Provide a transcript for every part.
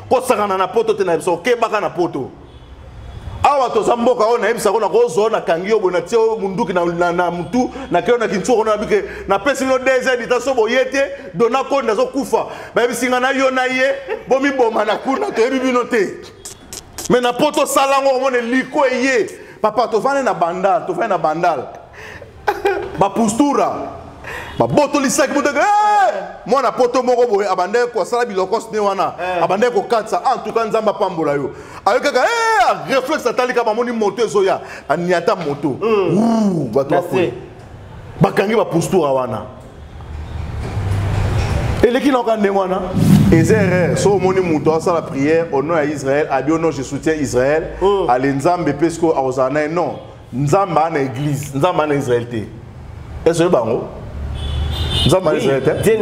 kosakana na poto te na biso okebaka na poto awa toza mboka oyo nayebisa ko nakozwa oyo nakangi yo boye natie oyo munduki na, na, na mutu nakei oyo na kinsu okona nabi ke napesi bino dz dita so boye te dona konde azokufa bayebisi ngai na yo na ye bomiboma na kuna toyebi bino te me na po tosala yango omona eliko eye papa tofandi na bandal tofandi na bandal ba postura babotolisaki moteke mwana poto moko boye abandaki kosala bilokos ne wana eh. abandaki kokatisa ah, en tout cas nzambe apambola yo ayo kaka eh, reflexe atalika bamoni moto ezoya aniata moto hmm. bato bakwe bakangi bapostura wana eleki naoka ndenge wana eza erreur so omoni moto asala prière au nom ya israel abi au nom je soutien israel hmm. ale nzambe mpe sikoyo akozala na ye non nzambe aa na église nzambe aa na israel te esoye bango nzambe aa na israel te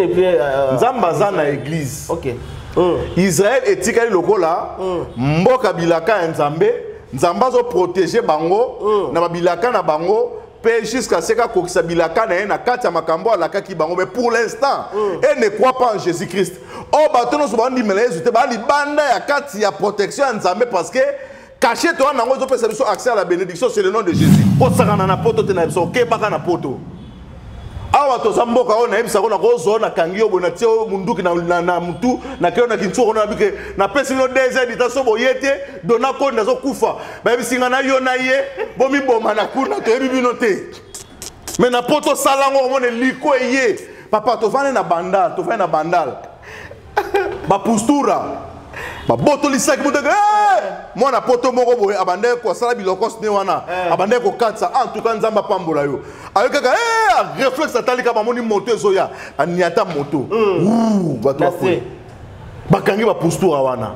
nzambe aza na église okay. mm. israel etikali lokola mm. mboka bilaka ya nzambe nzambe azoprotege bango mm. na babilaka na bango mpe jusqu'à seka akokisa bilaka na ye na kati ya makambo alakaki bango mais pour l'instant mm. e ne croit pas en jésus christ oyo oh, bato nyonso bandimela yesu te baa libanda ya kati ya protection ya nzambe parce que Cachette wana nango ezo pesa biso accès à la bénédiction c'est le nom de Jésus. Kosakana na poto te na biso okebaka na poto. awa toza mboka oyo nayebisa ko nakozwa na kangi yo boye natie oyo munduki na, na, na mutu nakei na kinsuka kuna nabike napesi bino deux heures dita so boye te dona koni nazokufa bayebisi nga na yo na ye bomiboma na kuna toyebi bino te me na po tosala yango omona eliko eye papa tofandi na bandal tofandi na bandal ba postura babotoli saki moto eke eh! mwana poto moko boye abandaki kosala bilokos ne wana eh. abandaki kokatisa en tout cas nzambe apambola yo ayokaka eh, reflexe atalika bamoni moto ezoya aniata moto hmm. bato bakwe bakangi bapustura wana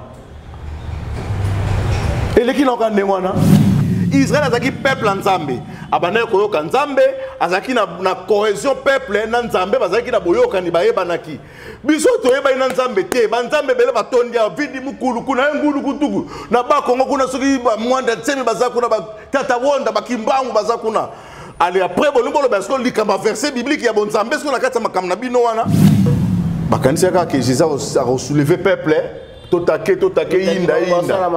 eleki naoka ndenge wana israel azalaki peuple ya nzambe abandaki koyoka nzambe azalaki na, na cohesion peuple na nzambe bazalaki na boyokani bayebanaki biso toyebaki na nzambe te banzambe ebele batondi awa vidi mukulu kuna ye ngulu kutuku na bakongo kuna soki bamwanda nsemi baza kuna batata wonda bakimbangu baza kuna ale apres bolingi boloba siko likambo ya verset biblique ya bonzambe siko na kati ya makambo na bino wana bakanisaka ke jesus akosouleve peuple totake totake yinda yinda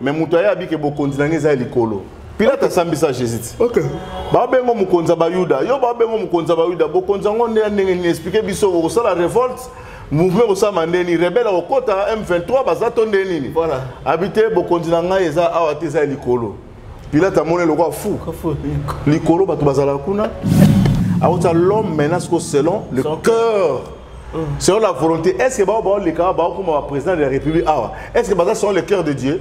me moto aye abike bokonzi na ngai eza ya likolo pilate asambisa jésus ti okay. babengo mokonzi ya bayuda yo babengo mokonzi ya bayuda bokonzi yango nde ya ndenge nini explike biso okosala revolte mouvement ekosama nde nini rebele akokota m23 baza to nde nini voilà. abi te bokonzi na ngai eza awa te eza ya likolo Pilate amoni eloko ya fou. Likolo bato bazalaka kuna. Akotia l'homme maintenant siko selon le cœur. Mm. Selon la volonté, est-ce que bao bao le kawa bao kuma président de la République awa? Est-ce que baza selon le cœur de Dieu?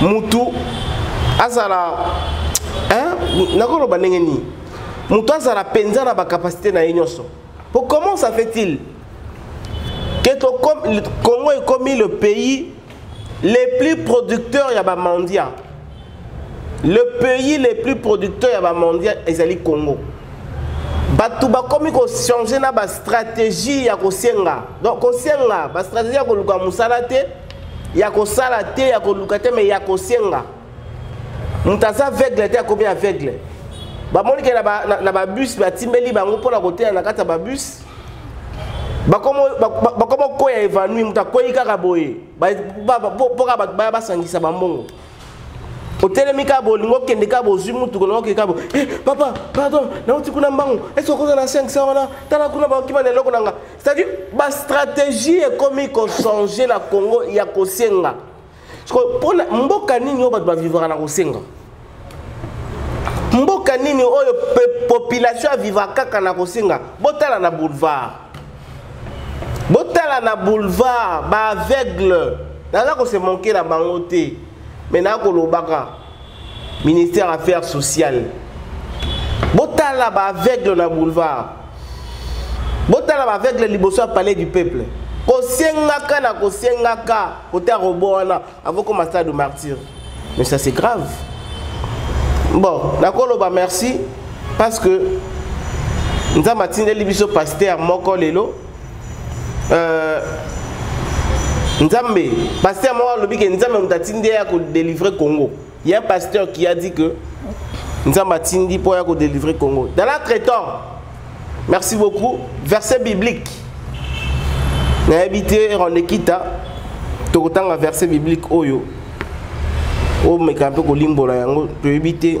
mutu azala nakoloba ndenge nini mutu azala mpenza na bacapacité na ye nyonso po comment ça fait-il que congo ekomi le pays les plus producteurs ya bamandia le pays les plus producteurs ya bamandia ezali congo bato bakomi kochange na bastratégie ya kosenga donc kosenga bastratégie ya koluka mosala te ya kosala te ya koluka te me ya kosenga moto aza aveugle te akomi aveugle bamoni ke na babus batimbeli bango mpo na koteya na kati ya babus bakoma koya evanui moto akwei kaka boye mpo kaka bato baya basangisa bambongo otelemi kaka bolingo okende kaka bozwi motuko na okende kaka bo eh, papa pardon nauti kuna mbango esi okoza na 500 wana tala kuna bakima na eloko na nga c'est-à-dire bastratégie ekomi kochange na congo ya kosenga mpona mboka nini oyo bato bavivaka na kosenga mboka nini oyo population avivaka kaka na kosenga botala na boulevard botala na boulevard baaveugle naza kosemonkela bango te me nakolobaka ministère affaires sociales botala baaveugle na boulevard botala baaveugle liboso ya palais du peuple kosengaka na kosengaka kota robo wana akokoma stade de martyr mais ça c'est grave bon nakoloba merci parce que nzambe atindeli biso paster moko lelo euh, nzambe pasteur moko alobi ke nzambe moto atindi ye ya kodelivre congo ya pasteur qui a dit que nzambe atindi mpo ya kodelivre congo dans notre temps merci beaucoup verset biblique nayebi te rondekita tokotanga verset biblique oyo omeka mpe kolimbola yango toyebi te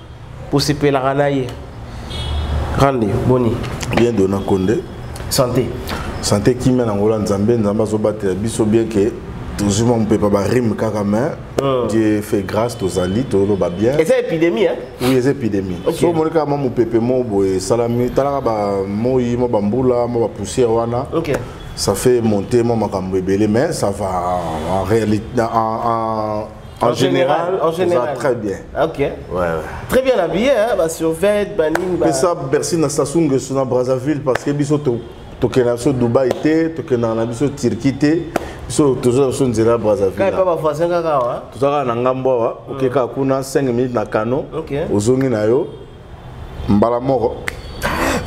kosepelaka na ye rande boni bien dona konde santé santé kimia na ngola nzambe nzambe azobatela biso bien ke tozwi mwa mopepa barime kaka mais oh. dieu fait grâce tozali toloba bien eza épidémie hein? oui eza épidémie okay. so omoni kaka mwa mopepe moko boye esalami talaka bamoi mwa bambula mwa bapoussière wana okay. ça fait monter mwa makambo ebele mais ça va en réalité en, en En, général, en général. très bien. Ok. Ouais, ouais. Très bien habillé, hein, bah, sur Vêt, Banin. Bah... ça, Bercy, na Sassung, na Brazzaville, parce que biso to tokenda biso dubai te tokendaka na biso turquie te biso tozoya biso nzela brazzavilletoza kaka na ngambo awa mm. oke kaka kuna 5 minutes na kano ozongi na yo mbala moko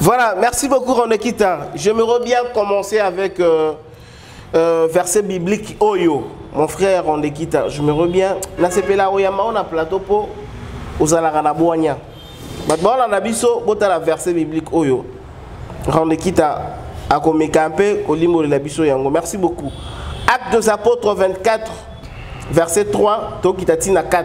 voilà merci beaucoup ronekita je me reviens commencer avec euh, Euh, verset biblique oyo mon frère ondekita je me reviens nasepela oyamba o na plateau mpo ozalaka na bwanya bato baolanda biso botala verset biblique oyo rendekita akomeka mpe kolimbolela biso yango merci beaucoup acte des apôtres 24 verset 3 tokita ntina 4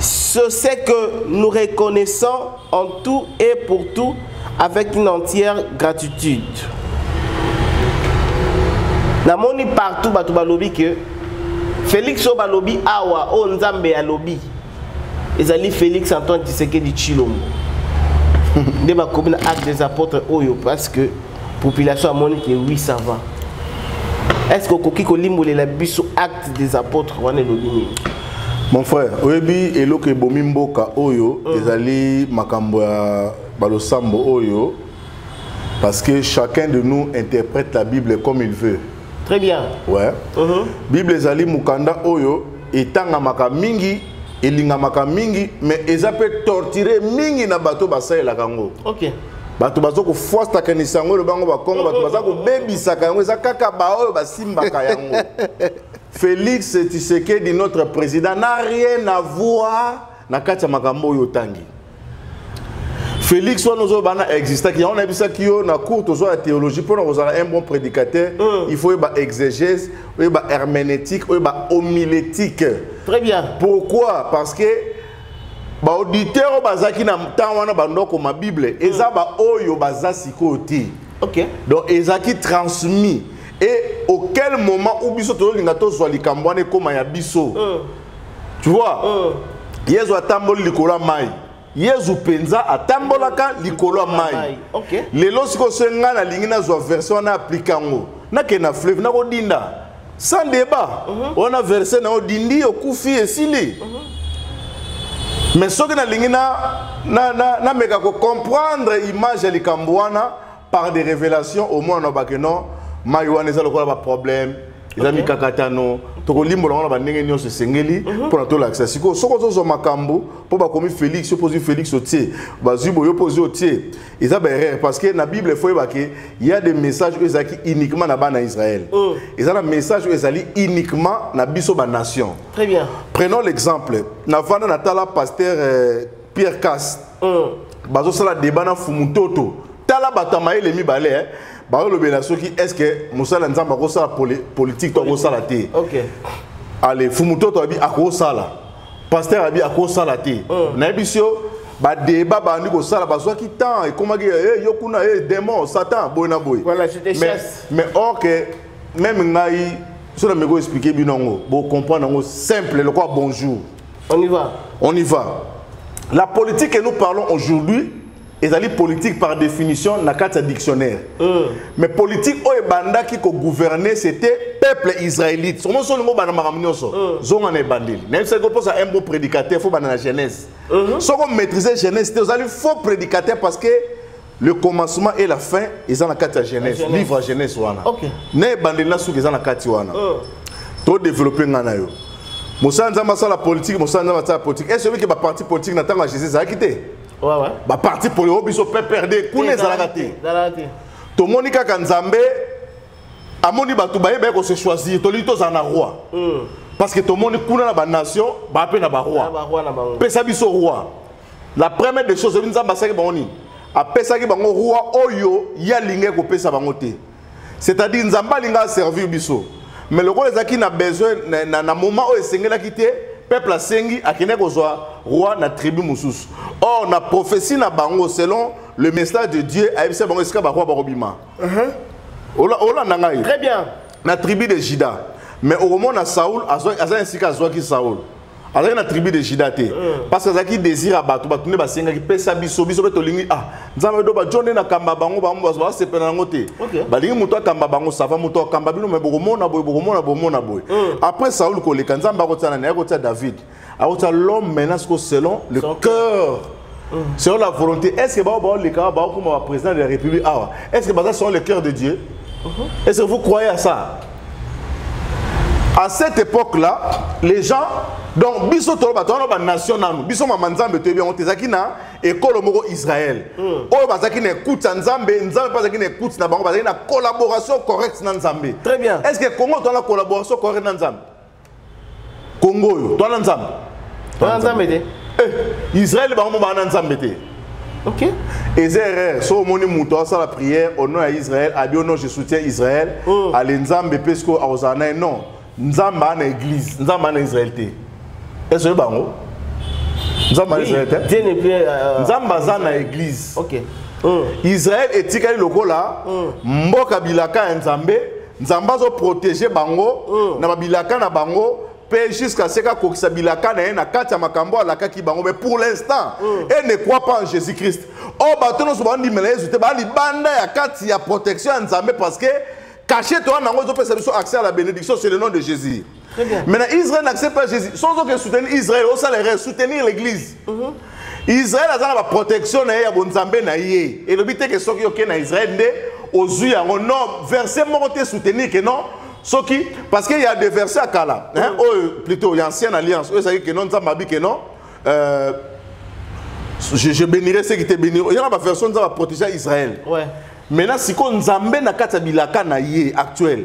ce c'est que nous reconnaissons en tout et pour tout avec une entière gratitude. namoni partout bato balobi ke félix oyo balobi awa oyo oh, nzambe alobi ezali félix antoine tshisekedi tshilombo nde bakomi na acte des apôtres oyo parce que population amoni ke oui ça va est ce que okoki kolimbolela biso acte des apôtres wana elobi nini mon frère oyebi eloko ebomi mboka oyo mm. ezali makambo ya balosambo oyo parce que chacun de nous interprète la bible comme il veut très bien ouais uh mhm. -huh. bible ezali mokanda oyo etangamaka mingi elingamaka mingi mais eza mpe torture mingi na bato basalelaka yango okay. bato baza kofuastaka lisango eloba yango bakongo bato baza kobebisaka yango eza kaka baoyo basimbaka yango félix tshisekedi notre président na rien à voir na kati ya makambo oyo otangi félix wana ozoloba na existaki yango nayebisaki yo na cour tozwa ya théologie mpo na kozala un bon prédicateur mm. il faut oyeba exégèse oyeba herménétique oyeba homilétique très bien pourquoi parce que baauditeur oyo bazalaki na ntango wana bando akoma bible eza mm. baoyo baza sikoyo te okay. donc ezalaki transmis et auquel moment ou biso tozolinga tozwa likambo wana ekóma ya biso mm. tu vois mm. yezu atamboli likolo ya mai yezu mpenza atambolaka likolo ya mai okay. lelo sikoyo se ngai nalingi nazwa version wana aplika yango nakende na fleuve nakodinda sans débat mhm. wana verset na yo dindi okufi esili mhm. mais soki nalingi nameka kocomprendre image ya likambo wana par des révélations au moins nabake non mai wana eza lokola baproblème eza mikakatano tokolimbola wana bandenge nyonso esengeli mhm. mpo na tolakisa sikoyo soki ozozwa makambo mpo bakomi félix yo mpo ozwi félix otie bazwi boyo mpo ozwi otie eza ba erreur parce que na bible faut yeba que il y a des messages oyo ezalaki uniquement na bana israël mm. eza na message oyo ezali uniquement na biso ba nation très bien prenons l'exemple na vanda na tala pasteur euh, pierre cas mm. bazosala débat na fumutoto tala bato ya mayele mibale eh? balobela soki est ce que mosala nzambe akosala politique to akosala te okay. ale fumutoto abi akosala pasteur abi akosala te mm. nayebisi yo badeba bandi kosala bazwaki temps ekomaki eh, yo kuna e démon satan boye na boye voilà, mais or que même ngai so na meko expliquer bino yango bocomprendre yango simple lokola bonjour on y va on y va la politique que nous parlons aujourd'hui ezali politique par définition na kati ya dictionnaire mm. mais politique oyo ebandaki kogouverner c'était peuple israélite somo so olingi obanda makambo nyonso mm. zonga na ebandeli nayebisaki mposa un bon prédicateur fo banda na genèse mm -hmm. soko maîtrise genèse te ozali faux prédicateur parce que le commencement et la fin eza na kati ya genèse, genèse. livre ya genèse wana okay. na ebandeli na suki eza na kati wana mm. todeveloppe ngai na yo mosala nzambe asala politike mosala nzambe asala politike est ce que ba parti politique na ntango ya jésus ezalaki te ouais, ouais. baparti polio oh, biso pprd kuna ezalaka te tomoni kaka nzambe amoni bato baye baye kose choisir tolingi tozala na roi mm. parce que tomoni kuna na banation baa mpe na baroi pesa biso roi la première des choses oyebi nzambe asalaki bango nini apesaki bango roi oyo ye alingaki kopesa bango te c'est-à-dire nzambe alinga aservir biso mais lokola ezalaki na besoin na, na, na moment oyo esengelaki te peuple asengi akende kozwa roi na tribu mosusu or na prophétie na bango selon le message de dieu ayebisa bango esika baroi bakobima uh -huh. olanda ngai très bien na tribu de juda mais okomona saul aza esika azwaki saul azalaki na tribu de juda te mm. parce que azalaki désir ya bato bato nde basengaki pesa biso biso mpe tolingi ah nzambe do bajo nde nakamba bango bango basepela yango te balingi moto akamba bango sava moto akamba bino me bokomona boye bokomona bomona boye mm. après saul koleka nzambe akotia nani akotia david akotia l'homme maintenant siko selon le cœur Mm. selon la volonté est ce que bao baoleka baokoma ba président de la république awa est ce que baza selon le cœur de dieu mm-hmm. est ce que vous croyez à ça à cette époque là les gens donc biso tolo bato wana banation nanu biso mama nzambe toyebi yango te ezalaki na ekolo moko israel mm. oyo bazalaki na ekute ya nzambe nzambe mpe azalaki na ekute na bango bazalaki na collaboration correcte na nzambe très bien est ce que congo toza na collaboration correcte na nzambe Congo oyo toana nzambe toana nzambe te eh, Israël bango mo baana nzambe te ok eza erreur so omoni moto asala prière au nom ya Israël abi au nom je soutiens Israël oh. ale nzambe mpe sikoyo akozala naye non nzambe ana église nzambe ana Israël te esoye bango nzambe ana Israël te euh, euh, nzambe aza na église ok oh. Israël etikali lokola oh. mboka bilaka ya nzambe nzambe azo protege bango mm. na babilaka na bango mpe jusqu'à ce kakokisa bilaka na ye na kati ya makambo alakaki bango mais pour l'instant mm. e ne croit pas en jésus christ o oh, bato nyonso bandimela yesu te baa libanda ya kati ya protection ya nzambe parce que cachete wana yango ezopesa biso accès à la bénédiction c'est le nom de jésus Très bien. Maintenant, Israël n'accepte pas Jésus. Sans aucun soutenir Israël, au salaire, soutenir l'église. Mm -hmm. Israël a la protection na ye ya bonzambe na ye. Et le but est que soki oke na Israël nde ozui yango. Non, verset moko te soutenir que non. Soki parce qu'il y a des versets à kala, hein, mm. oh, plutôt il y a ancienne alliance. Eux ça que non, nzamba bi que non. Euh, je, je bénirai ceux qui te béniront. Il y a la version nzamba protéger Israël. Ouais. Maintenant siko nzambe na kati ya bilaka na ye actuel.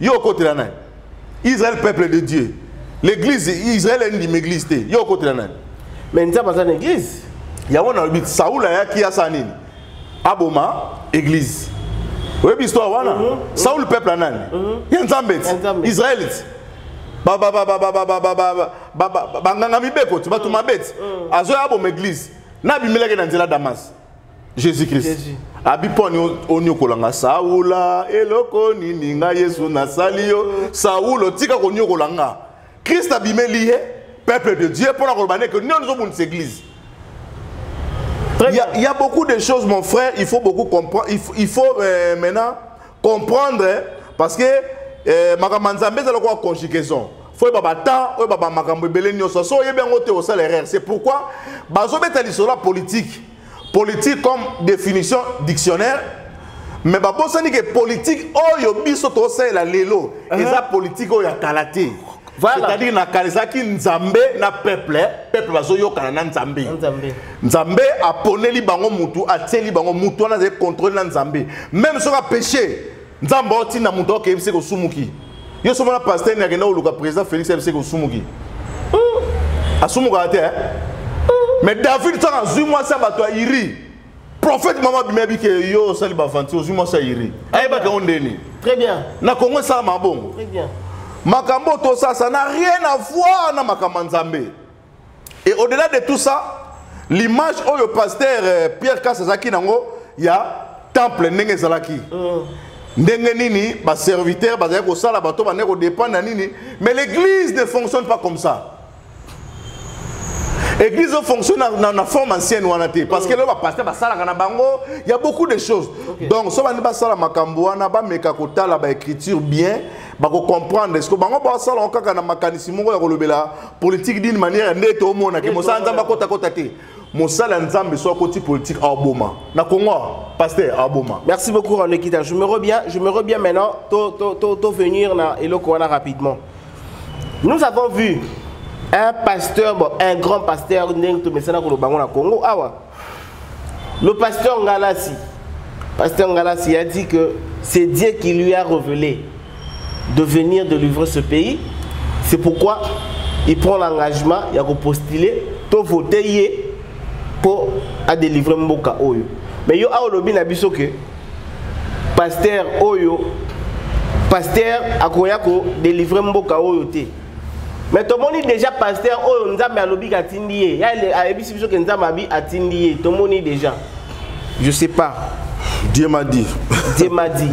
yo okotela nani israel peuple de dieu l'église israel endima église te yo okotela nani mais nzambe aza na église yango nalobi saul ayaki asala nini aboma église oyebi histoire wana mhm. saul peuple ya nani mhm. ya nzambe ti israelite banganga mibeko ti bato mabe ti azoya aboma église nabimelaki na nzela damas jésus christ jésus. abi mpo oniokola nga saula eloko nini nga yesu nasali yo saulo tika koniokola nga christ abimeli ye peuple de dieu mpo na koloba neke nini ozobundisa église il y, a, il y a beaucoup de choses mon frère il faut beaucoup comprendre il faut, il faut euh, maintenant comprendre parce que eh, makambo ya nzambe ezala koka conjugaison fo oyeba batemps oyeba bamakambo ebele nyonso so oyebi yango te osala erreur c'est pourquoi bazobeta lisolo ya politique politique comme définition dictionnaire mais babosani ke politique oyo biso tosalela lelo eza politique oyo ya kala te Voilà. C'est-à-dire na kanisaki Nzambe na peuple, peuple bazoyokana na Nzambe. Nzambe. Nzambe aponeli bango mutu, atieli bango mutu wana azali contrôle na Nzambe. Même soki apeshe, Nzambe aotinda mutu akeyebisa kosumuki. Yo soki mona pasteur ni akenda koluka président Félix ayebisa kosumuki. Asumukaka te. Hein? Mais David soki azwi mwasi ya bato ya Iri, prophète mama abimi abi ke yo osali baventure ozwi mwasi ayiri ayebaka yango ndeni très bien na kongo esalama bongo très bien makambo oyo tosasa na rien à voir na makambo ya nzambe et au delà de tout ça l'image oyo pasteur euh, pierre kas azalaki nango ya temple ndenge ezalaki mm. ndenge nini baserviteur bazali kosala bato bandeki kodépendre ya nini mais l'église ne fonctionne pas comme ça église ofonctionne na, na, na forme ancienne wana te parce que lelo bapaster basalaka na bango ya beaucoup de choses okay. donc so bandi basala makambo wana bameka kotala baécriture bien bakocomprendre eske bango basala yango kaka na makanisi moko ya kolobela politique d'une manière nde tomonake mosala nzambe akotakota te mosali ya nzambe so akoti politique aboma na congo pasteur aboma merci beaucoup rolekita je me reviens je me reviens maintenant to, to, to, to venir na eloko wana rapidement nous avons vu un pasteur bon, un grand pasteur ndenge tomesana koloba yango na congo awa le pasteur ngalasi pasteur ngalasi a dit que c'est dieu qui lui a révélé de venir de livrer ce pays c'est pourquoi il prend l'engagement ya kopostuler to vote ye mpo adelivre mboka oyo mais yo awa olobi na biso ke pasteur oyo pasteur akoya kodelivre mboka oyo te mais tomoni déjà pasteur oyo oh, nzambe alobi atindi ye ayebisi biso ke nzambe abi atindi ye tomoni déjà je sais pas dieu m'a dit dieu m'a dit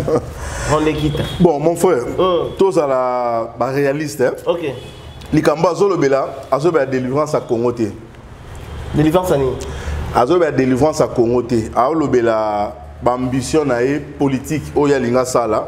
rondekita bon mon frère mm. tozala baréaliste hein? okay. likambo azolobela azolobela délivrance ya congo te délivrance ya nini azolobela délivrance ya congo te aolobela baambition na ye politike oyo alingi asala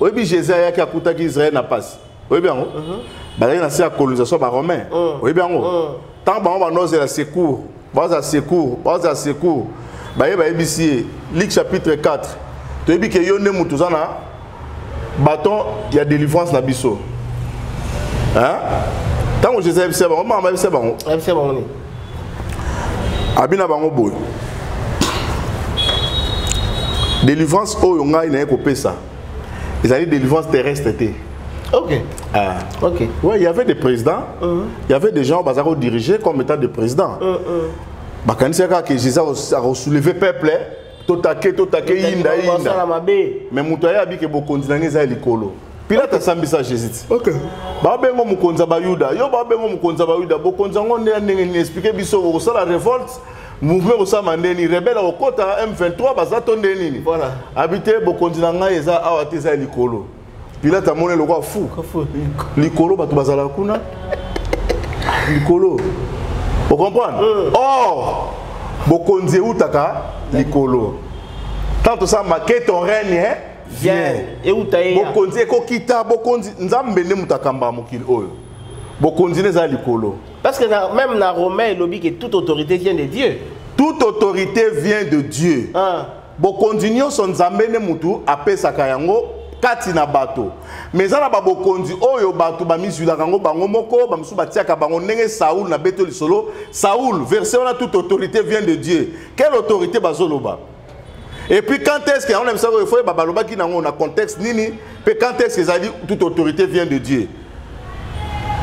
oyebi jésus ayaki akutaki israel na mpasi oyebi yango mhm. bazalaki na se ya colonisation baromain mm. oyebi yango mm. ntango bango banozela secours baoza secours baoza secours baye bayebisi ye luk chapitre 4 toyebi ke yo nde moto oza na baton ya délivrance na biso ntango jésus ayebisa bango mama bayebisa bango abi na bango boye délivrance oyo ngai naye kopesa ezali délivrance terrestre te Ok. Ah. Ok. Oui, il y avait des présidents, mm -hmm. il y avait des gens qui ont dirigé comme étant des présidents. Mm -hmm. Bah, quand il y a que Jésus a soulevé le peuple, totake totake yinda yinda me moto aye abike bokonzi na ngai eza ya likolo pilate asambisa jésus ti okay. babengo mokonzi ya bayuda yo babengo mokonzi ya bayuda bokonzi yango nde ya ndenge nini explike biso okosala revolte mouvement ekosama nde nini rebele akokota m23 baza to nde nini voilà. abi te bokonzi na ngai eza awa te eza ya likolo pilate amoni lokola fu likolo bato bazalaka kuna likolo ocomprendre euh. or bokonzi eutaka likolo ntango tosala make ton règne hein? vient euta ye bokonzi ekokita bokonzi nzambe nde moto akamba mokili oyo bokonzi nde eza likolo parce que na, même na romain elobi ke toute autorité vient de dieu toute autorité vient de dieu ah. bokonzi nyonso nzambe nde motu apesaka yango kati na bato me eza na babokonzi oyo bato bamizwilaka yango bango moko bamosusu batiaka bango ndenge saul na beto lisolo saul verse wana toute autorité vient de dieu quelle autorité bazoloba et puis quand est-ce que yango na misako efo yeba balobaki nango na contexte nini mpe quand est-ce que ezali toute autorité vient de dieu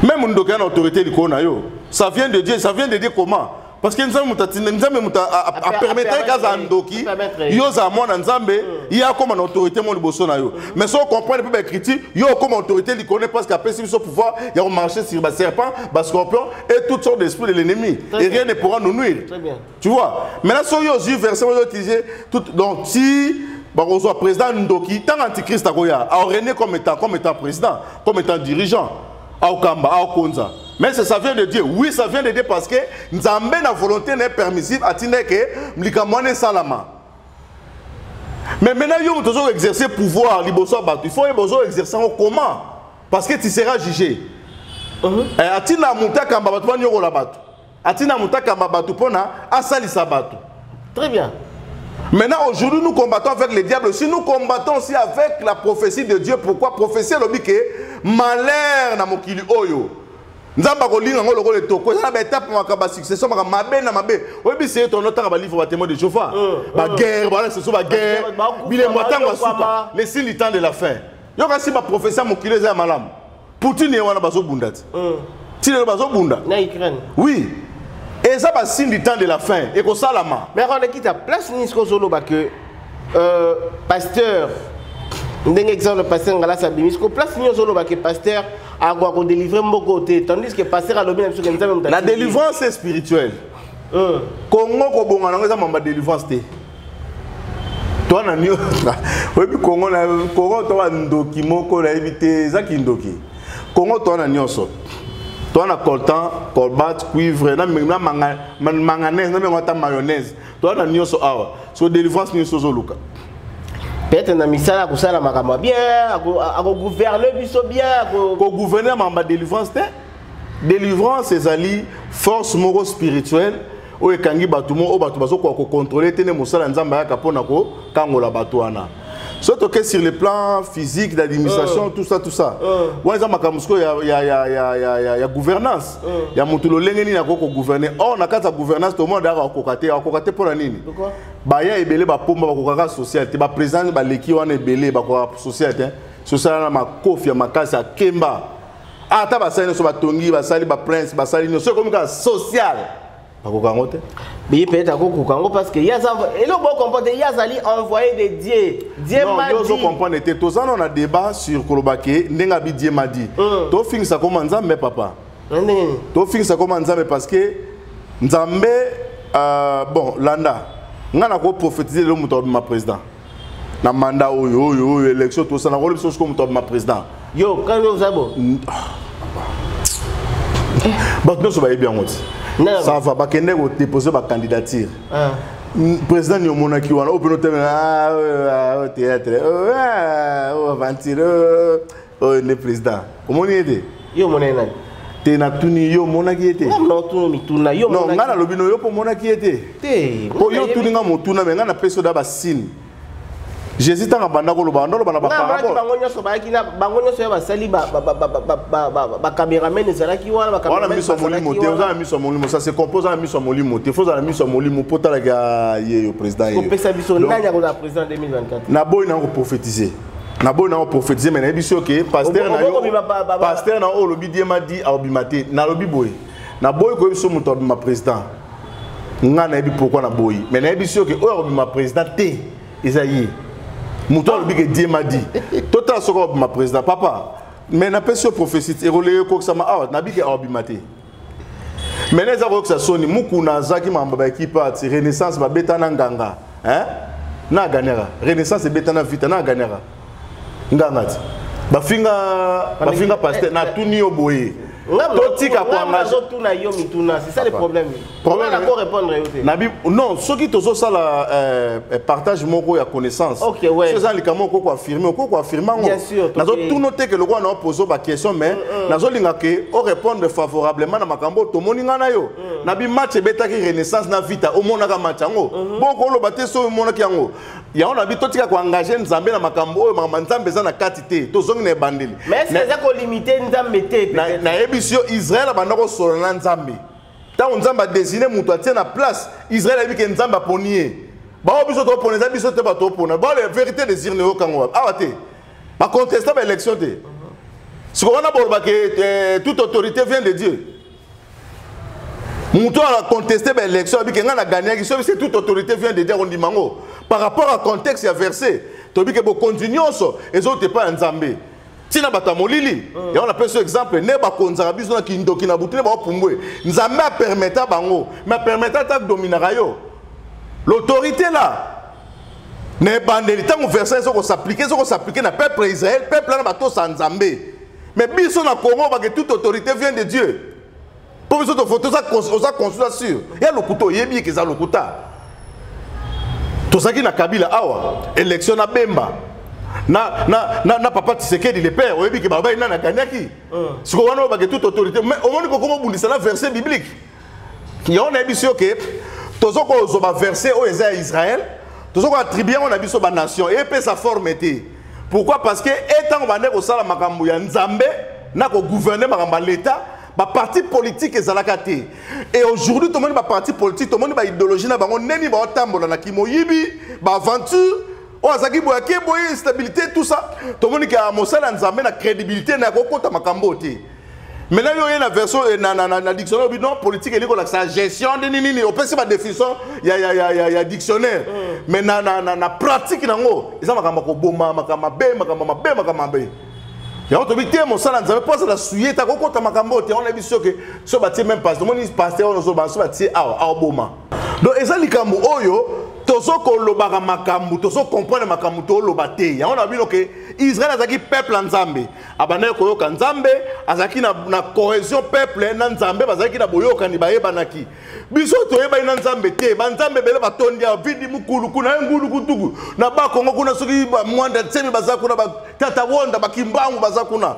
même ndoki ya na autorité likolo na yo ça vient de dieu ça vient de dieu comment parce que nzambe moto atinda nzambe moto apermettre ye kazala ndoki yo ozala mwana nzambe hmm. ye akóma na autorité mo liboso na yo mais soki ocomprendre mpe baécriture yo okóma autorité likone parce que apesi biso pouvoir ya komarche sur baserpent bascorpion et toutes sortes d'esprit de l'ennemi et rien ne pourra nous nuire tu vois maintenant soki yo ozwi verset oyo utilise donc si bakozwa président ndoki ntango antichrist akoya aorenie comme étant comme étant président comme étant dirigeant aokamba aokonza mais ça vient de dieu oui ça vient de dieu parce que nzambe na volonté na ye permissive atinda eke likambo wana esalama mais maintenant yo moto ozo exercer pouvoir liboso ya bato il faut yeba ozo exercer yango comment parce que tu seras jugé uh-huh. eh, atinda moto akamba bato banyokola bato atina mutakamba bato mpona asalisa bato très bien Maintenant, aujourd'hui, nous combattons avec le diable. Si nous combattons aussi avec la prophétie de Dieu, pourquoi prophétie lobi que malheur na mokili oyo. nzambe akolinga yango lokola etoko eza na baetape maka basuccession maka mabe na mabe oyebi seye tono ntanga balivre batemoin de jehova baguerre bawana susu baguerre bilembo ya ntango ya suka lesili temps de la fin yoka si baprofesi ya mokili eza ya malamu poutine ye wana bazobunda ti mm. ti lelo bazobunda na ukraine oui eza basigne du temps de la fin ekosalama mais akolekita place nini soki ozoloba ke euh, pasteur ndenge exemple pasteur ngalasi abimi siko place nini ozoloba ke pasteur akoka kodelivre mboko te tandis que pasteur alobi na biso ke nzambe la délivrance est spirituelle euh. congo kobonga nango eza mamba délivrance te toi na nio oyebi kongo na kongo to ba ndoki moko na yebi te eza ki ndoki kongo toi na nioso toi na coltan colbat cuivre na na manga manganese na mengo ta mayonnaise toi na nioso awa so délivrance nioso zo luka peut-être na misala akosala makambo bien akogouverner biso bien akogouverner makambo ya délivrance te Delivrance ezali force moko spirituelle oyo ekangi bato moko oyo bato bazokoka kokontrole te nde mosala ya nzambe ayaka mpo na kokangola bato wana soki toke sur le plan physique d'administration uh, tout ça tout ça euh. wana eza makambo sikoyo ya, ya, ya, ya, ya, ya, ya gouvernance uh. ya moto lolenge nini akoki kogouverne or na kati ya gouvernance tomona daka akoka te akoka te mpo na nini baya ebele bapomba bakokaka social te baprésident baleki wana ebele bakokaka social te social wana makofi ya makasi akemba Ah, ata basali nyonso batongi basali baprince basali nyonso ekomi kaka social bakoka yango te biye peut-être akokoka yango parce que eloko bocomprendre ye azali envoyé de dieu dieu madio comprendre te toza no na débat sur koloba ke ndenge abi dieu madi mm. tofingisa koma nzambe papa tofingisa koma nzambe parce que nzambe euh, bon landa ngai nakoprofetize lelo moto abima président na mandat oyo oyo oyo élection tosana kolo biso soko moto abima président yo kani oza bo bato nyonso bayebi yango ti ça va bakende kodépose bacandidature ah. président ni omonaki wana oyo mpe notemela ah, euh, ah, euh, théâtre euh, aventure oyo nde président omoni ye te yo omona ye nani te natuni yo omonaki ye te ngai nalobi no yo mpo omonaki ye te mpo yo otuni ngai motuna me ngai napesi oda basine jésus ntango abanda koloba anda oloba na babango nyonso bayaki na bango nyonso ya basali bacameraman ezalaki wana wana miso ya molimo te oza na miso ya molimo sase kompo oza na miso ya molimo te fo oza na miso ya molimo mpo otalaka ye yo président yeopesa biso nani akozala président 2024 naboyi nango koprofetize na boyi na prophétiser mais nayebi so ke pasteur na yo pasteur na oyo lobi diema di aobima te na lobi boye na boyi koyebi so moto abima président nga nayebi pourquoi na boyi mais nayebi so ke oyo akobima président te eza ye moto alobi ke diema di totala soki akobima président papa mais napesi yo prophétie ekoleye kokisama awa nabiki akobima te mena eza koyokisa soni mukuna azaki mambo ba ekipe ati renaissance babeta na nganga hein? na aganera renaissance ebeta na vita na aganera nganga ti bafinga bafinga pasteur natuni yo boye totika koangazotuna yo mituna c'est ça le problème problème nako répondre yo te nabi non soki tozosala euh, euh, partage moko ya connaissance okay, ouais. eza likambo okoki koaffirme okoki koaffirme yango nazotuna oteke lokola na opozo baquestion mais mm. nazolinga ke o répondre favorablement na makambo oyo tomoni ngai na yo mm. na bimatch ebetaki renaissance na vita omonaka match yango mm-hmm. bokoloba te soki omonaki yango yango na bi totika koengage nzambe na makambo oyo makambo nzambe eza na kati te tozongi na ebandeli nayebisi yo israel abanda kosolola na nzambe ntango nzambe adesine moto atie na place israel ayebi ke nzambe aponi ye bao biso topona eza biso te bato opona bao la verité des urne oyokango wapi awa te bacontesta baélection te siko wana bolobaka eh, toute autorité vient de dieu moto oyo aconteste baélection abike ngai nagagnaki soki se toute autorité vient de dieu akondima yango par rapport à contexte ya verset toyebi ke bokonzi nyonso ezouta epai ya nzambe ntina bato ya molili mm. yango napesi yo exemple nde bakonzaka biso na kindoki na butu nde baopumbwe nzambe apermeta bango me apermeta ata dominaka yo l'autorité la na ebandeli ntango verset ezo kosaplike ezo kosaplike na peuple ya israel peuple wana batosa nzambe mais biso na congo bake toute autorité vient de dieu mpo biso toza consula sur ya lokuta oyebi eke eza lokuta tozalaki na kabila awa élection na bemba na, na, na, na papa tisekedi le père oyebi ke balobaki nani aganyaki euh. sikoyo wana oyo bake toute autorité mais omoni kokoma obundisa na verset biblique yango nayebisi yo ke tozo kozwa baverse oyo eza ya israel tozo koatribue yango na biso banation epesa forme te pourquoi parce que e ntango bande kosala makambo ya nzambe na kogouverne makambo ya leta baparti politike ezalaka te e aujourd'hui tomoni baparti politike tomoni baidéologie na bango ndeni baotambola na kimoyibi baaventure oyo azalaki boye ake boye instabilité tout ça tomoni ke mosala ya nzambe na crédibilité na ya kokota makambo oyo te maintenant yo oye na version eh, na, na, na, na dictionnaire obi non politique elingi kolakisa gestion nde nini nini opesi badefinition ya, ya, ya, ya, ya dictionnaire mm. mais na, na, na, na pratique nango eza makambo ya koboma makambo mabe makambo mabe makambo mabe yango tobi te mosala nzambe mpo azala suye ta kokota makambo oyo te yango nayebi soki so batie meme paster omoni paster wana ozoloba so batie awa aoboma donc eza likambo oyo tozo kolobaka makambo tozo comprendre makambo toloba te yango na bino ke israel azalaki peuple ya nzambe abandaki koyoka nzambe azalaki na, na cohesion peuple na nzambe bazalaki na boyokani bayebanaki biso toyebani na nzambe te banzambe ebele batondi ya vidi mokulu kuna ye ngulu kutuku na bakongo kuna soki mwanda nsemi baza kuna batata wonda bakimbangu baza kuna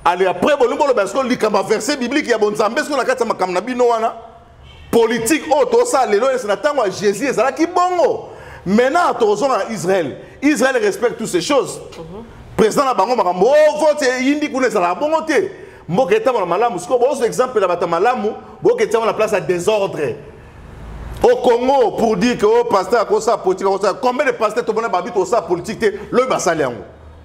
ale apres bolingi boloba siko likambo ya verset biblique ya bonzambe siko na kati ya makambo na bino wana politike oyo tosala lelo ese na ntango ya jésus ezalaki bongo maintenant tokozonga na israel israel respecte toutes ces choses mhm. président na bango makambo o oh, vote eyindi kuna ezalaka bongo te mboka etambola malamu sikoyo bozwa exemple na bato ya malamu boyoka etiango na place ya désordre au congo pour dire que o oh, pasteur akosala politique akosala combien de pasteur tomona babi tosala politique te lobi basali yango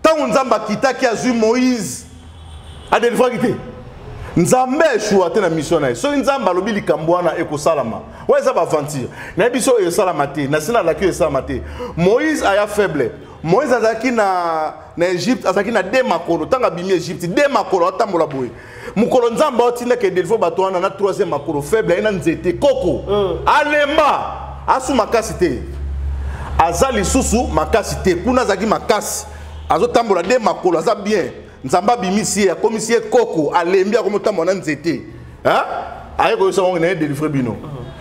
ntango nzambe akitaki azwi moïse adelivraki te nzambe eshua te na misio na ye soki nzambe alobi likambo wana ekosalama oyo eza baaventure nayebi so oyo esalama te nasi nalaki oyo esalama te moïse aya faible moïse azalaki na na egypte azalaki na de makolo ntango abimi egypte de makolo atambola boye mokolo nzambe aotindaka edelfo bato wana na troisième makolo faible aye na nzete koko mm. alemba asu makasi te aza lisusu makasi te kuna azalaki makasi azotambola nde makolo aza bien nzambe abimisi ye akomisi ye koko alembi akomi otambola na nzete aye koyesa bango na ye delivre bino mm.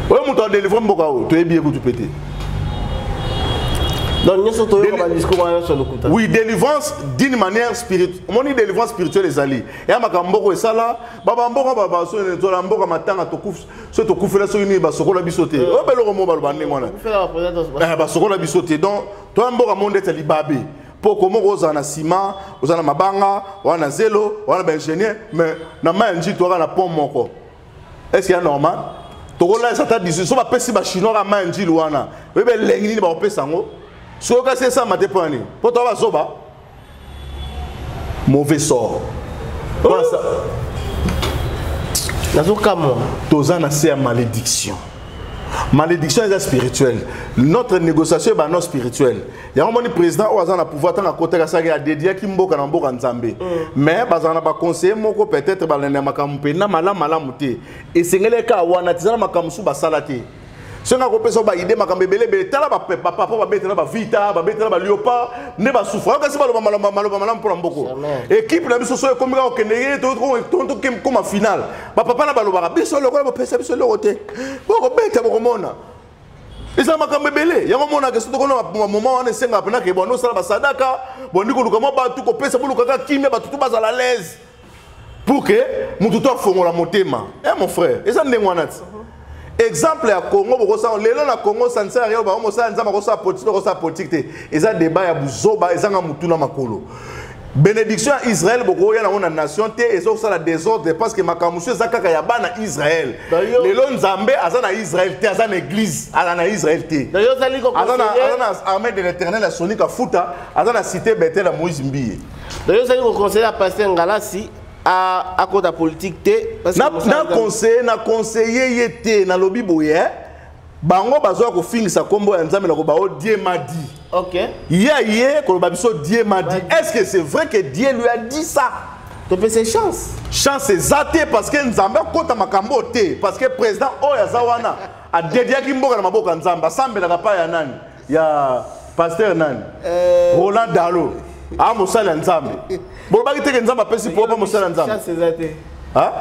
oyo moto adelivre mboka oyo toyebi ye kutu mpe te donc nyonso toyoka badiscours wana nyonso lokuta oui délivrance d'une manière spirituelle omoni délivrance spirituelle ezali ya makambo mboko esala babamboka babasola mboka matanga soki tokufela soki nini basokola biso te oyo mpe eloko moko baloba ndenge wana eh, basokola biso te donc toya mboka mo ndeti ya libabe mpo komoko ozala na nsima oza na mabanga wana na zelo wana baingénieur mais na mai ya njitu aka na pont moko est ce que ya normal tokolalisa ata 18 so bapesi bachinois ka mai njili wana oyebi elengi nini bakopesa yango soki okasi esama te mpo na nini mpo toa bazoba mauvais sort nazokamwa toza na se ya malédiction malédiction eza spirituelle notre négociation ebano spirituelle yango moni président oyo aza na pouvoir ntango akotaki asalaki adediaki mboka na mboka nzambe mm. mais bazala na baconseiller moko peut-être balanda makambo mpenza malamu malamu te esengeli kaka wana te eza na makambo mosusu basala te soki akopesa baide makambo ebele ebele tala bapapa babetela bavita babetela baliopa nde basufra kasi baloba maloba maloba malamu mpo na mboko ekipe na biso so ekomi kaka kokende ye tokoma finale bapapa na balobaka biso lokola bopesa biso eloko te bokobeta bokomona eza makambo ebele yango omonaka soki tokona moma wana esengaka mpenaka ebandi osala basadaka bandi koluka mwa bato kopesa bolukaka kimia bato to bazala laise pour ke moto to afongola motema e eh, mon frère eza ndenge wana ti exemple ya congo bokosala lelo na congo sanser ya bango mosala nzambe akosala politike akosala politike te eza debat ya buzoba ezanga motuna makolo benediction ya israel bokoya nango na nation te ezosala desordre parce que makambo mosusu eza kaka ya bana israel lelo nzambe aza na israel te aza na église aza na israel te aza na armée de l'éternel ya sonika futa aza na cité betel ya moïse mbiye dayo ozali koconseille ya paster ngalasi akota politique te na conseiller na conseiller ye te nalobi boye bango bazoya kofingisa nkombo ya nzambe na koba o oh, dieu m'a dit okay. ye aye koloba biso dieu m'a dit est ce que c'est vrai que dieu lui a dit ça topesa chance chance eza te parce que nzambe akota makambo oyo te parce que président oyo aza wana adediaki mboka na maboko ya nzambe asambelaka pa ya nani ya pasteur nani euh, roland dalo a mosali ya nzambe bolobaki teke nzambe apesi po pa mosali ya nzambe chance eza te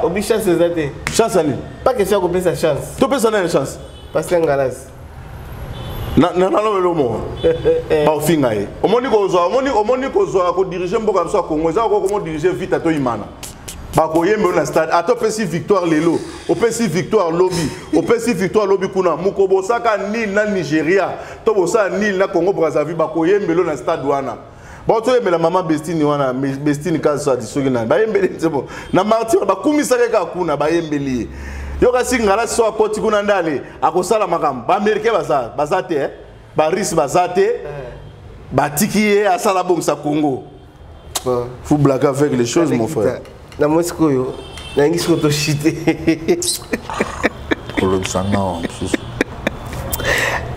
obi chance eza te chance ya nini pa question ya kopesa chance topesa nani chance pasteur ngalasi nalobelo moko eh. baofinga ye omoni kozwa omoni kozwa kodirige mboka biso ya kongo eza kokomodirige vita to imana bakoyembela na stade ata opesi victoire lelo opesi victoire lobi opesi victoire lobi kuna mokobosaka nil na nigeria to bosala nil na congo brazzaville bakoyembela na stade wana baotoyembela mama bestine wana bestine kasadi soki nani bayembeli nsebo na martir bakumisaka ye kaka kuna bayembeli ye yokasi ngala so akoti kuna nde ale akosala makambo baamericain baza baza te eh? barusse baza te eh. batiki ye asala bongisa congo ah. faut blaguer avec les choses mon frère na moi sikoyo nalingi sikoyo toshite kolobisa nao mosusu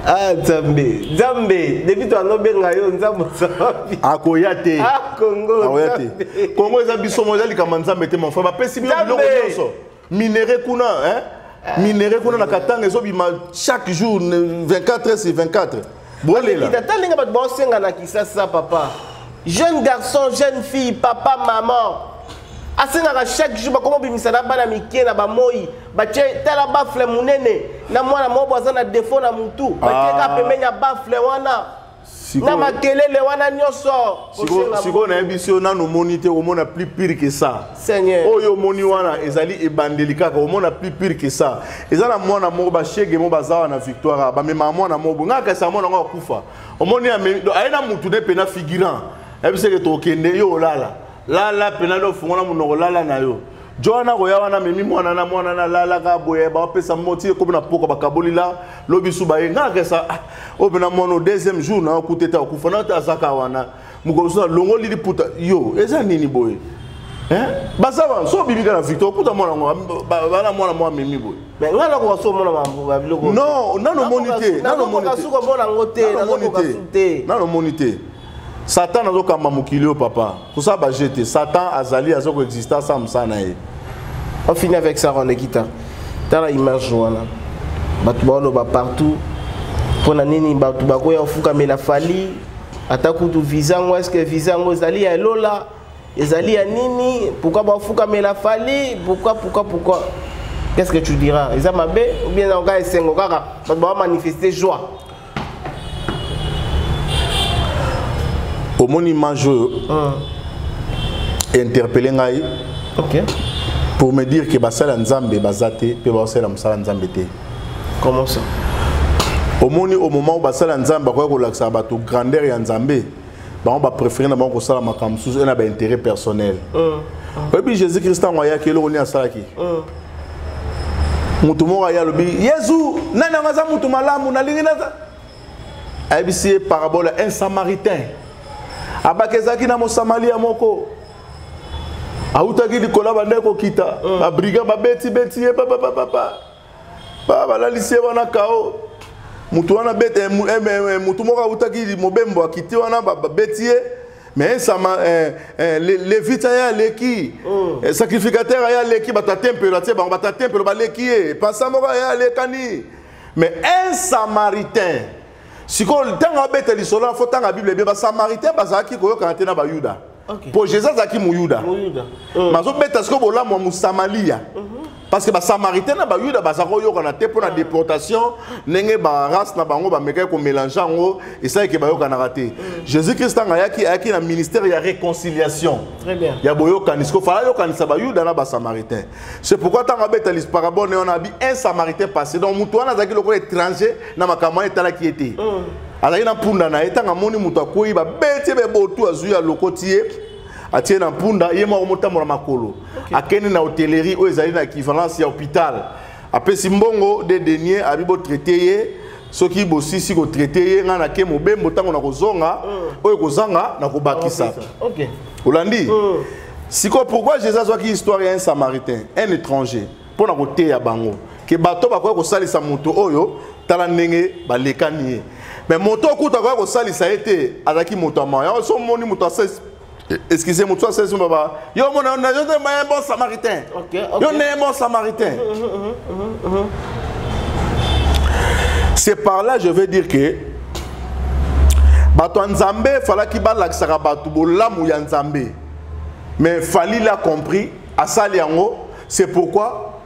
ah nzambe nzambe depuis to anobenga yo nzambe ozawapi akoya te ah, kongo akoya te kongo eza biso mo eza likambo ya nzambe te mon frère bapesi bino biloko nyonso minere kuna hein? Eh. minere kuna na katanga ezobima chaque jour 24 heures sur 24 bolela ata ndenge bato baosenga na kisasa papa jeune garçon jeune fille papa maman asengaka chaque jour bakoma obimisa na bana mike na bamoi batye tala bafle monene na mwana moko aza na defo na motu batyeka ah. pembeni ya bafle wana na makelele wana nyonso sikoyo nayebi si yo nanu omoni te omona plus pire que ça oyo omoni wana ezali ebandeli kaka omona plus pire que ça eza na mwana moko bashege moko baza wana victoire bamemaka mwana moko ngai akasaka mwana yango akufa omoni aye na mutu ne mpe na figurant yebiseke tokende yo olala lala mpena do ofungola monoko lala na yo joana akoya wana amemi mwana na mwana na lalaka boye bapesa moti ekomi na poko bakaboli la lobi su baye nga akesa ah, oyo mpena mwana o deuxième jour na okuta ete akufa na te azaka wana mokolo mosusu alongoli liputa yo eza nini boye baza wana so obimi kaka na victoire okuta mwana yango bana mwana mwa amemi boye nga nakoka so omona babiloko non nano omoni te nano omoni te nano omoni te satan azokamba mokili oyo papa tosala baje te satan azali aza koexiste asala mosala na ye on finit avec ça ronekita tala image wana bato baoloba partout mpo na nini bato bakoya kofukamela fali ata kutu visa yango eske visa yango ezali ya elola ezali ya nini pourkui bafukamela fali pourkui pourkui pourkui qu'est ce que tu diras eza mabe ou bien eza koka esengo kaka bato bamanifeste joie omoni image oyo ah. interpelle ngai okay. pour me dire que basali ya nzambe baza te mpe baosalela mosala ya nzambe te comment ça omoni au moment oyo basali ya nzambe bakoki kolakisa bato grandeur ya nzambe bango baprefere na bango kosala makambo mosusu e na baintérêt personnel mm. oyebi jésus krist ntango ayaki eloko nini asalaki mm. moto moko aye alobi yezu nani yango aza moto malamu nalingi naza ayebisi ye parabole ya un samaritain abaki ezalaki na mosamalia moko awutaki likolo abandaki kokita mm. babriga babetibeti ye papapapapa ba balalisi ye wana kao motu wana bete eh, eh, eh, motu moko awutaki mobembo akiti wana babeti ye mais nsama eh, eh, levite aye aleki oh. eh, sacrificateur aye aleki bato ya tempelo atie bango bato ya tempelo baleki ye pasa moko aye alekani mais un samaritain sikoyo ntango abeta lisolo na fo ntanga bible ebie basamaritain bazalaki koyokana te na bayuda okay. mpo jesus azalaki moyuda mm. mazobeta sikoyo bolamu ya mosamalia mm -hmm. parce que basamaritain na bayuda baza koyokana te mpo na déportation ndenge barace na bango bamekaki komélange yango esalaki bayokanaka te mm. jésus christ ntango ayaki ayaki na ministère ya réconciliation ya boyokani siko fala ayokanisa bayuda na basamaritain c'est pourquoi ntango abeta lisparabone wana abi un samaritain passé donc moto wana azalaki lokola étranger na makambo wana etalaki ye te mm. azalaki na mpunda na ye ntango amoni moto akwei babeti ye bebotu azwi alokoti ye atie na mpunda ye moko motambola makolo okay. akende na hotellerie oyo ezali na equivalence ya hôpital apesi mbongo de denier abi botraite ye soki bosisi kotraite ye ngai nake mobembo ntango nakozonga mm. oyo ekozanga nakobakisa okay. olandi mm. sikoyo pourquoi jésus azwaki histoire ya un samaritain un étranger mm. mpo na koteya bango ke bato bakoya kosalisa moto oyo tala ndenge balekani ye me moto okuta akoya kosalisa ye te azalaki moto ya mawa so omoni moto asesi excusez moto asesi baba yo omona yo nde maye bon samaritain yo nde bon samaritain c'est par là je veux dire que bato ya nzambe efalaki balakisaka bato bolamu ya nzambe mais falili a compris asali yango c'est pourquoi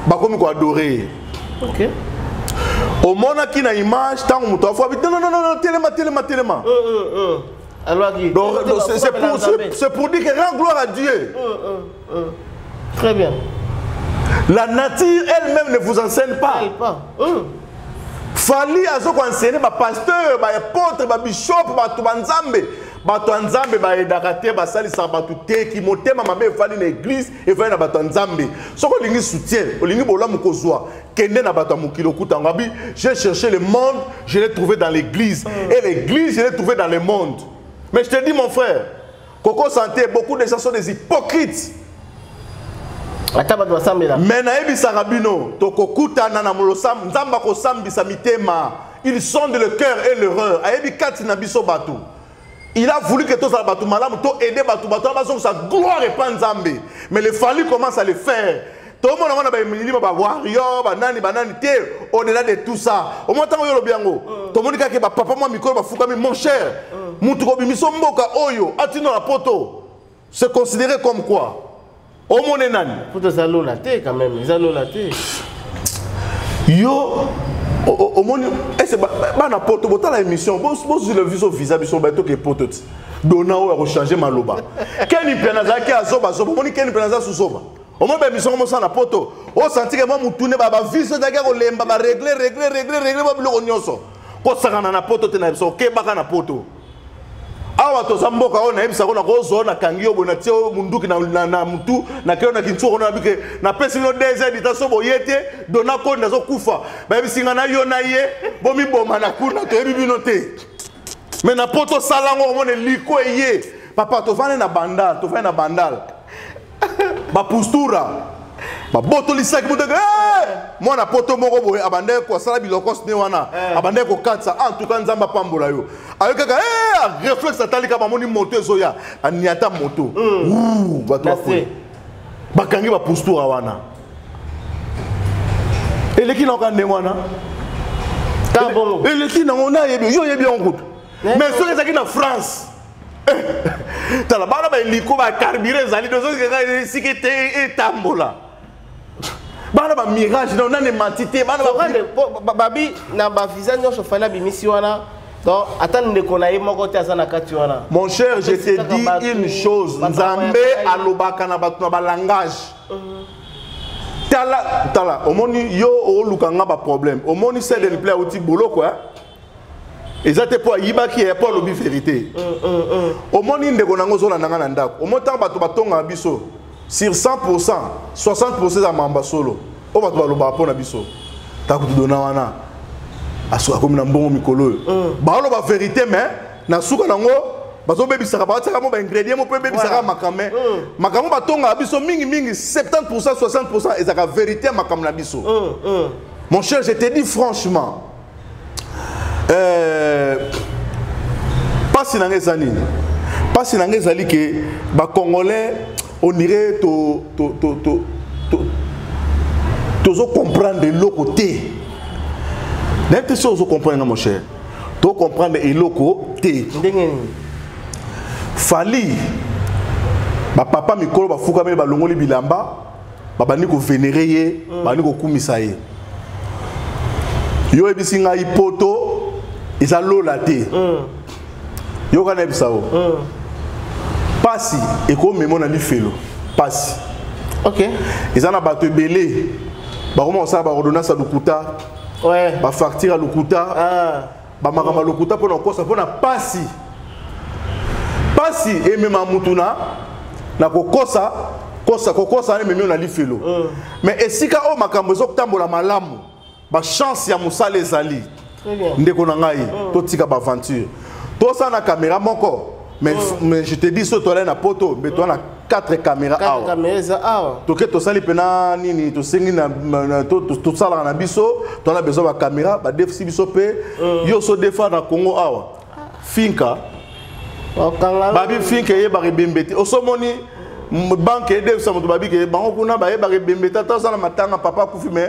bakomi ko adorer ye okay. omonaki na image ntango moto afuabi non non non telema telema telema c'est pour dire que rend gloire à dieu mm, mm, mm. très bien la nature elle-même ne vous enseigne pas, elle, pas. Hum. fali azokoenseigne bapasteur baepotre babishop bato banzambe bato ya nzambe baedaka te basalisaka bato te kimotema mabe efandi na eglize efandi na bato ya nzambe soki olingi soutien olingi bolamu kozwa kende na bato ya mokili okuta yango abi j'ai cherché le monde je l'ai trouvé dans l'église mm. et l'église je l'ai trouvé dans le monde mais je te dis mon frère koko santé beaucoup de gens sont des hypocrites ata bato basambela me nayebisaka bino tokokutana na molosam nzambe akosambisa mitema Il sonde le cœur et le rein. Ayebi kati na biso batu. Il a voulu que tozala batu malamu to aider batu batu bazong sa gloire et pas Nzambe. Mais le Fally commence à le faire. tomona wana bamilimo bawario banani banani te au-delà de tout ça omwa ntango yo lobi yango mm. tomoni kaka bapapa mwa mikolo bafukami mon cher mm. motu kobimiso mboka oyo atino na poto se considérer comme quoi omone nani poto eza lola te quand même eza lola te yo omoni ese bana poto botala émission bozwi le viso visa biso batoke poto ti dona oyo akochange maloba keni mpe nazalaki azobazoba omoni keni mpe naza suzoba omoi baemission mosala na poto osantike mwa motune baviso ezalaki ya kolemba baregle regle regle regle ba biloko nyonso kosakana na poto te na biso okebaka na poto awa toza mboka oyo nayebisa ko nakozwa nakangi yo boye natie oyo munduki na, na, na mutu nakeyo na kinsuka ona nabike napesi bino deux heures dita so boye te dona kondi azokufa bayebisi ngai na yo na ye bomiboma na kuna toyebi bino te me na po tosala yango omona eliko eye papa tofandi na bandal tofandi na bandal ba postura babotolisaki moteke mwana poto moko boye abandaki kosala bilokos ne wana eh. abandaki kokatisa ah, en tout cas nzambe apambola yo ayo kaka eh, reflexe atalika bamoni moto ezoya aniata moto hmm. bato bakwe bakangi bapostura wana eleki naoka ndenge wana eleki nango nayebi yo oyebi yango kutu eh, mais soki ezalaki na france tala bana baeliko bacarbure ezali esika etambola bana bamirage no nani emanti te bana babi na bavisa nyonso fali abimisi wana donc ata ndeko na ye moko te aza na kati wana mon cher je te dis une chose nzambe alobaka na bato na balangage mhm. tala tala omoni yo oluka nga baproblème omoni sedel pla auti boloko eh? eza te mpo ayibaki ye mpo alobi verité mm, mm, mm. omoni ndeko nango ozolanda ngai na ndako omoni ntango bato batongaka biso sur 100 pourcent 60 pourcent eza mamba solo oyo bato balobaka mpo na biso ntango tudona wana akomi na mbongo mikolo oyo baoloba verité mais na suka nango bazobebisaka batiaka mo baingredient mo mpe ebebisaka makambo me makambo batongaka biso mingimingi 70 pourcent 60 pourcent ezalaka verité ya makambo na biso mon cher je te dis franchement eh, mpasi na ngai eza nini mpasi na ngai ezali ke bacongolais onire tozo comprendre eloko te nayebi te soki ozo comprendre nga mon cher to comprendre eloko te ndenge nini fali bapapa mikolo bafukami balongoli bilamba babandi kovenere ye mm. babandi kokumisa ye yo oyebisi ngai poto eza lola te mm. yoka nayebisa yo mm. pasi ekomema na lifelo pasi okay. eza na bato ebele bakoma kosala baordonnance ya lokuta ouais. bafacture ya lokuta ah. bamakambo ya lokuta mpo na kokosa mpo na mpasi mpasi emema motu na na kokosa kosa kokosa wana ememi yo na lifelo mm. mais esika oyo makambo ezotambola malamu bachance ya mosala ezali ndeko na ngai mm. totika baaventure tosala na kamera moko Mais, oh. mais je te dis, surtout à Poto, mais toi, on a quatre caméras. Quatre awa. caméras, ça, awa. Tu sais, tu sali pena, nini, tu sais, na, na, tu, tu, tu sala na biso, tu as besoin de caméra, bah, def, si biso pe, mm. yo so defa na Congo, awa. Finka. Oh, Babi Finka, ye, bari bembete. Osomoni, banke edefisa moto babike bango kuna bayebaka ebembe tata osala matanga papa akufi me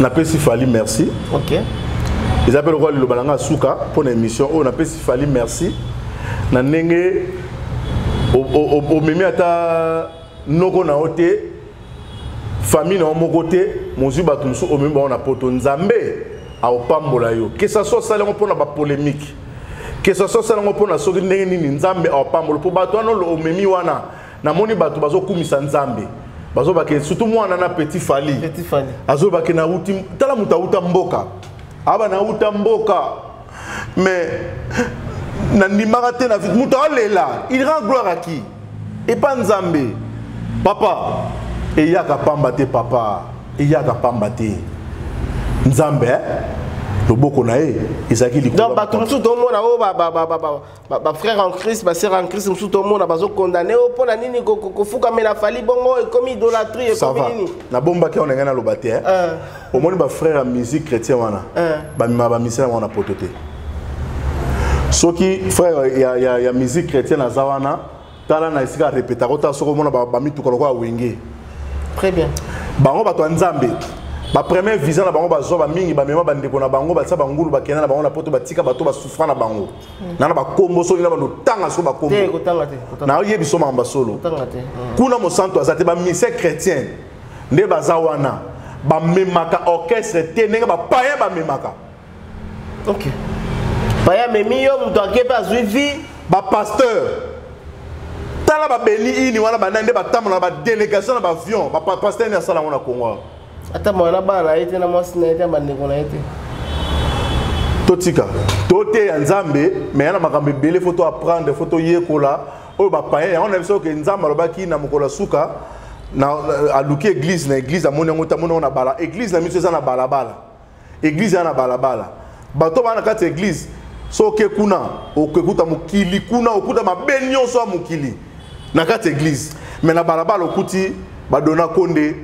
napesi fali merci okay. eza mpe lokola liloba na ngai suka mpo na émission oyo napesi fali merci na ndenge omemi ata noko na yo te famille na yo moko te mozwi bato mosusu omemi bango na poto nzambe aopambola yo que ça soit osali yango mpo na bapolémique que ça soit osali yango mpo na soki ndenge nini nzambe aopambola mpo bato wana omemi wana namoni bato bazokumisa nzambe bazobake surtout mwana na petit fali azobake nauti tala moto auta mboka aba nauta mboka mais nandimaka te na vide moto alela il rend gloire à qui epa nzambe papa eyaka pamba te papa eyaka pamba te nzambe eh? loboko na ye ezalaki likolo bato mosusu tomona oyo bafrère en christ basœur en christ mosusu tomona bazokondane o mpo na nini kofukamela fali bongo ekomi idolatrie ekomi nini nabombaki yango na ngai naloba te euh. omoni bafrère ya musique chrétien wana euh. bamema bamisela yango na poto te soki frère ya, ya, ya musique chrétienne aza wana tala na esika arepetaka otala soki omona bamituka lokola wenge très bien bango bato ya nzambe bapremier visa na bango bazwa bamingi bamema bandeko na bango batia bangulu bakenda na bango na poto batika bato basufra na bango hmm. nana bakombo soki na bando tanga so bakombo nayebi so makambo basolo hmm. kuna mosantu aza te bamisie chrétien nde baza wana bamemaka orchestre te ndenge bapaya bamemaka ok baye amemi yo moto ake mpe azwi vie bapasteur tala babeli ini wana banani nde batambola na badélégation na baavion bapasteur nini asala yango na congo ata mwana na bana na ye te na mwasi na ye te na bandeko na ye te totika toteya nzambe me ya na makambo ebele fo toapprendre fo toyekola oyo bapayen yango na biso ke nzambe alobaki na mokolo ya suka aluki eglize na eglize amoni yango te amoni yango na bala eglize na biso eza na balabala eglize ya na balabala bato baa na kati ya eglize soki kuna okekuta mokili kuna okuta mabe nyonso ya mokili na kati ya eglize me na balabala okuti badona konde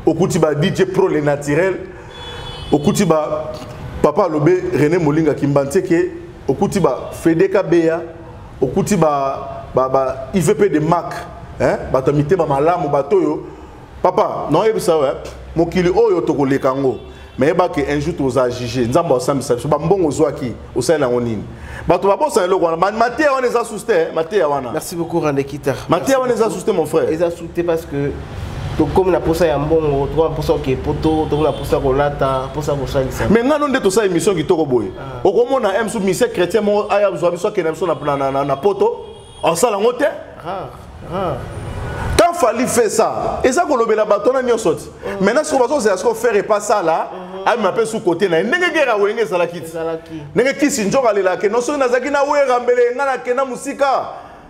okuti ba dj pro le naturel okuti ba papa alobe rené molinga kimbantieke okuti ba fedeka beya okuti ba, ba, ba ivp de mak eh? bato ya mitema malamu bato oyo papa naoyebisa yo eh, mokili oyo tokoleka yango mayeba ke un jour toza juge nzambe asambisa biso bambongo ozwaki osali yango nini bato babosana eloko wana mateya wana eza susu te mateya wana merci beaucoup randekita mateya wana eza susu te mon frère eza susu te parce que tokomi na mposa ya mbongo tokomi na mposa ya kepoto tokomi na mposa ya kolata mposa ya kosalisa me ngano nde tosala émission kitoko boye ah. okomona msu mise chrétien moko aya zwa biso akenda biso na poto osala yango te quand fali fait ça eza kolobela bato wana nyonso ti mm. maintenant soko bazozela soko faire epa sala mm-hmm. amema mpe su kote na ye ndenge gera wenge ezalaki ti ndenge kisi njoko alelake no soki nazalaki na wera mbele ngai nakenda mosika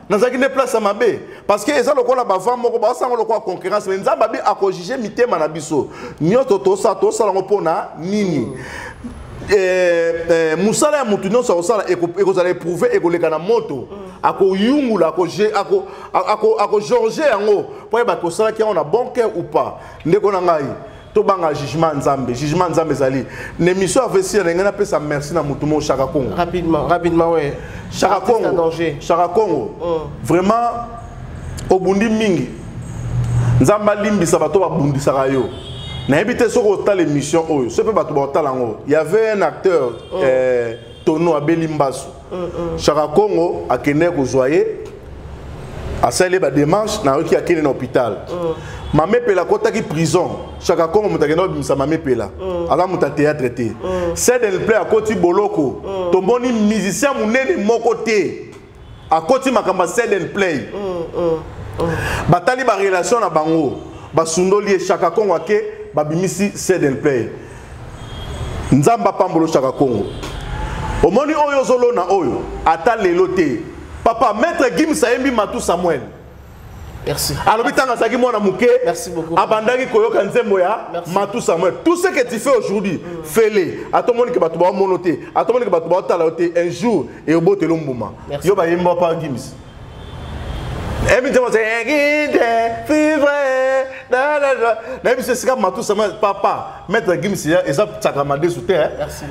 nazalaki nde place ya mabe parce que eza lokola bavant moko baosanga lokola concurrence me nzambe abi akojuge mitema na biso nyonso tosala tosala yango mpo na nini mm. eh, eh, mosala ya moto nyonso akosala ekozala eprouve ekoleka na moto akoyungula akojorge yango mpo ayeba kosalaki yango na bon cœur ou pas ndeko na ngai tobanga jugement ya nzambe jugement ya nzambe ezali na émission ya vesi na ngai napesa merci na motu moko shaka congo rapidement rapidement we shaka congo shaka congo mm. vraiment obundi mingi nzambe alimbisa bato babundisaka yo nayebi te soki otala émission oyo soki mpe bato baotala yango y avait un acteur mm. eh, tono abeli mbasu mm, mm. shaka congo akendeki kozwa ye asali ye bademarche nayoki akende na hôpital mm. mamepela akotaki prison shaka congo moto akenda kobimisa mamepela mm. aza moto ya théâtre te mm. sedenple akoti boloko mm. tomoni musicien monene moko te akoti makambo ya sell and play mm, mm, mm. batali barelation na bango basundoli ye shaka kongo ake babimisi sell and play nzambe apambolo shaka kongo omoni oyo ozolona oyo ata lelo te papa maître gims ayembi matu samuel Merci. alobi ntango azalaki mwana moke abandaki koyoka nzembo ya matu samuel tout ce que tu fais aujourd'hui mm. fele atomoni ke bato baomono te atomoni ke bato baotala yo te un jour eobotelo mbuma yo bayemba pa gims emitema egide fivre nayebi se esika matu samuel papa maître gims eza tsaka madesu te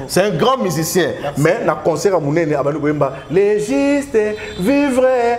c'est un grand musicien mais na concert ya monene abandi koyemba légiste vivre